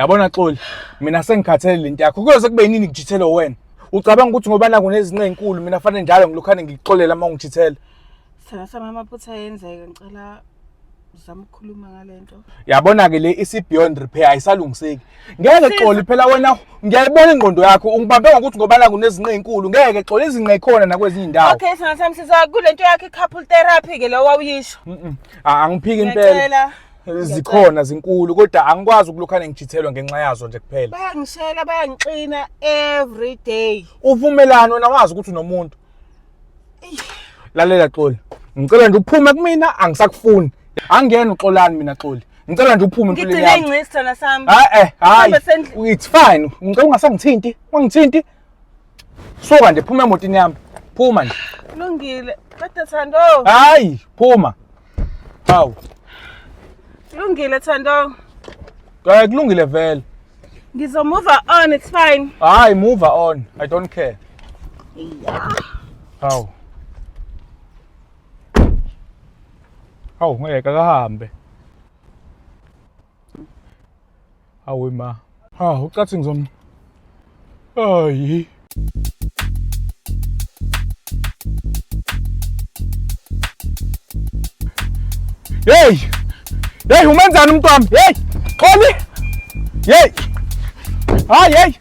yabona xoli mina sengikhathele le nto yakho kuyoze kube yinini ngijithele wena ucabanga ukuthi ngoba naku nezinqe enkulu mina fanele njalo ngilokhane ngikuxolela uma ungijithele sithanda sami amaphutha ayenzeka ngicela uzama ukukhuluma ngale nto yabona-ke le isi-beyond repair ayisalungiseki ngeke xoli phela wena ngiyayibona ingqondo yakho ungibambe ngokuthi ngoba naku nezinqe enkulu ngeke xoli izinqe khona nakwezinye indawo okay sithanda sami siza kule nto yakho i-couple therapy-ke lo wawuyisho Mm-mm. Ah, angiphiki impela ngiyacela zikhona zinkulu kodwa angikwazi ukulokhane ngijithelwa ngenxa yazo nje kuphela bayangishela bayangixina every day uvumelani wena wazi ukuthi unomuntu lalela xoli ngicela nje uphume kumina angisakufuni angiyena uxolani mina xoli ngicela nje uphume empilweni ngigcine yami ingcisi thana sami hayi eh hayi Hamba sendlini. it's fine ngicela ungasangithinti ungangithinti Suka nje phuma emotini yami. Phuma nje. Lungile. Kodwa Thando. Hayi, phuma. Hawu. Lungile Thando. Hayi kulungile vele. Ngizo move on, it's fine. Hayi move on. I don't care. Yeah. Hawu. Hawu ngeke akahambe. awe ma ha ucathi ngizom ayi Hey! Hey, umenzani umntwana? Hey! Xoli! Hey! Hayi, hey!